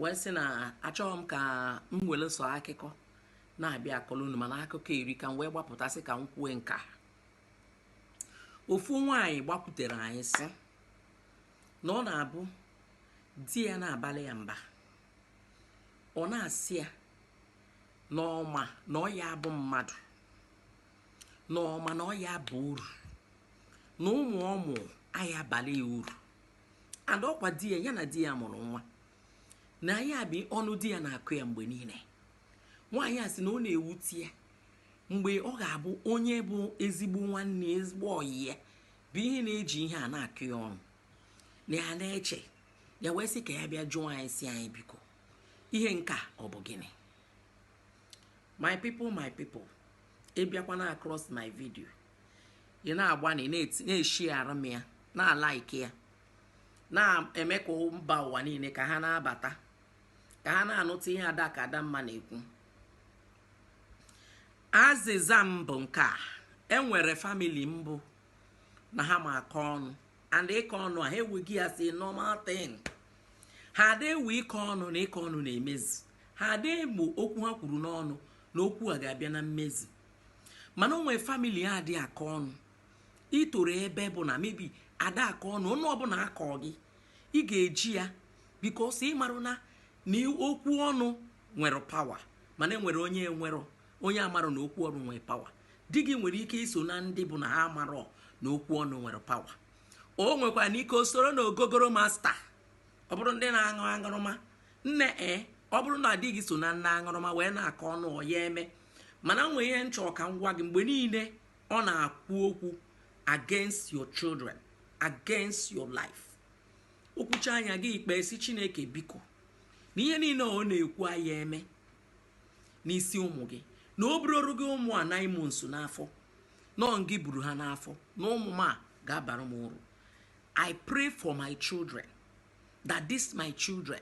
wee sị na achọghị m ka m were sọ akụkọ na-abịa akọrọ unu mana akụkọ erika m wee gbapụtasị ka m kwue nka ofu nwaanyị gbakwutere anyị sị na ọ na-abụ di ya na-abalị ya mba ọ na-asị ya na ọ ma na ọ ya abụ mmadụ na ọ ma na ọ ya aba uru na ụmụ ọ mụ aya abalị ya uru and ọkwa di ya ya na di ya mụrụ nwa na ya bụ ọnụ di ya na-akọ ya mgbe niile nwaanyị a sị na ọ na-ewute ya mgbe ọ ga-abụ onye bụ ezigbo nwanne ezigbo ọyị ya bụ ihe na-eji ihe a na-akọ ya ọnụ na ya na-eche ya wee sị ka ya bịa jụọ anyị sị anyị biko ihe nka ọ bụ gịnị my people my people ị bịakwana across my video ị na-agbanị na-esharerụ m ya na-alike ya na-eme ka mba ụwa niile ka ha na-abata ka ha na-anụta ihe ada ka adamma na-ekwu azịza m bụ nke a enwere family mbụ na ha ma akọ ọnụ and ịkọ ọnụ a ha ewego ya as normal thing ha ada ewe ịkọ ọnụ na ịkọ ọnụ na-emezi ha ada ewe okwu ha kwuru n'ọnụ na okwu a ga-abịa na mmezi mana o nwere family ha adị akọ ọnụ i toro ebe bụ na maybe ada akọ ọnụ ọnụ ọbụla a kọ gị ị ga-eji ya because ị marụ na okwu ọnụ nwere power mana enwere onye amarọ na okwu ọnụ nwere power di gị nwere ike iso na ndị bụ na ha amarọ na okwu ọnụ nwere power o nwekwaranụ ike o soro na ogogoro master ọ bụrụ ndị na-aṅụ aṅụrụma nne e ọ bụrụ na di gị so na ndị aṅụrụma wee na-akọ ọnụ ọ ya eme mana nwee ihe m chọrọ ka m gwa gị mgbe niile ọ na-ekwu okwu against your children against your life o kwuchaa ya gị ekpe sị chineke biko na ihe niile ọ na-ekwu aya eme n'isi ụmụ gị na o buroru gị ụmụ a nine months n'afọ na ọ gị buru ha n'afọ na ụmụ m a ga-abara m uru i pray for my children that this my children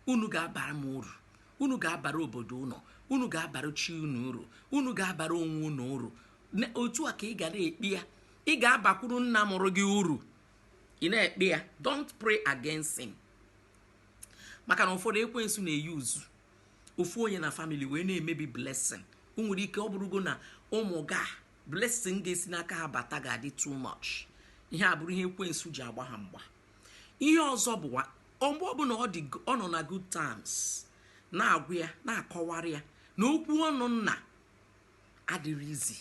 unu ga-abara m uru unu ga-abara obodo unu unu ga-abara chi unu uru unu ga-abara onwe unu uru otu a ka ị ga na-ekpe ya ị ga-abakwuru nna mụrụ gị uru ị na-ekpe ya don't pray against him maka na ụfọdụ ekwensu na-euse ofu onye na family wee na-emebi blessing o nwere ike ọ bụrụgo na ụmụ gị a blessing ga-esi n'aka ha bata ga-adị too much ihe a bụrụ ihe ekwensu ji agba ha mgba ihe ọzọ bụwa mgbe ọbụla ọ nọ na good times na-agwa ya na-akọwara ya na okwu ọnụ nna adịrị easy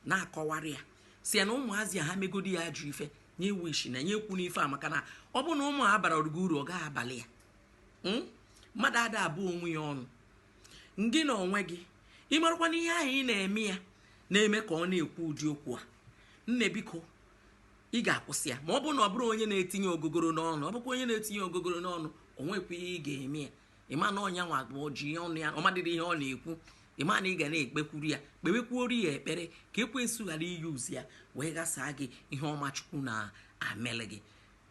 na-akọwara ya sị ya na ụmụazị a ha megodi ya ajọ ife nya ekwusina nya ekwuna ife a maka na ọ bụ na ụmụ a abarọ gị uru ọ gaghị abalị ya Hmm? mmadụ ada abụ onwe ya ọnụ ngị na onwe gị ị marakwa na ihe ahụ ị na-eme ya na-eme ka ọ na-ekwu ụdị okwu a nne biko ị ga-akwụsị ya ma ọ bụrụ na ọ bụrụ onye na-etinye ogogoro n'ọnụ ọ bụkwa onye na-etinye ogogoro n'ọnụ o nwekwa ihe ị ga-eme ya ịma na ọ nya nwa bụ ji ya ọnụ ya ọ madịrị ihe ọ na-ekwu ịma na ị ga na-ekpekwuru ya kpewekwuoru ya ekpere ka ekwensu ghara i use ya wee ghasaa gị ihe ọma chukwu na-emelụ gị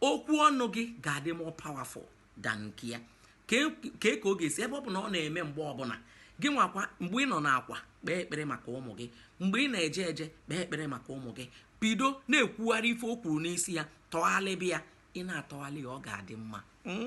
okwu ọnụ gị ga-adị more powerful than nke ya kee ka ọ ga-esi ebe ọ bụ na ọ na-eme mgbe ọbụla gị nwakwa mgbe ị nọ n'akwa kpee ekpere maka ụmụ gị mgbe ị na-eje eje kpee ekpere maka ụmụ gị bido na-ekwugharị ife o kwuru n'isi ya tọghalịba ya ị na-atọghalị ya ọ ga-adị mma hmm?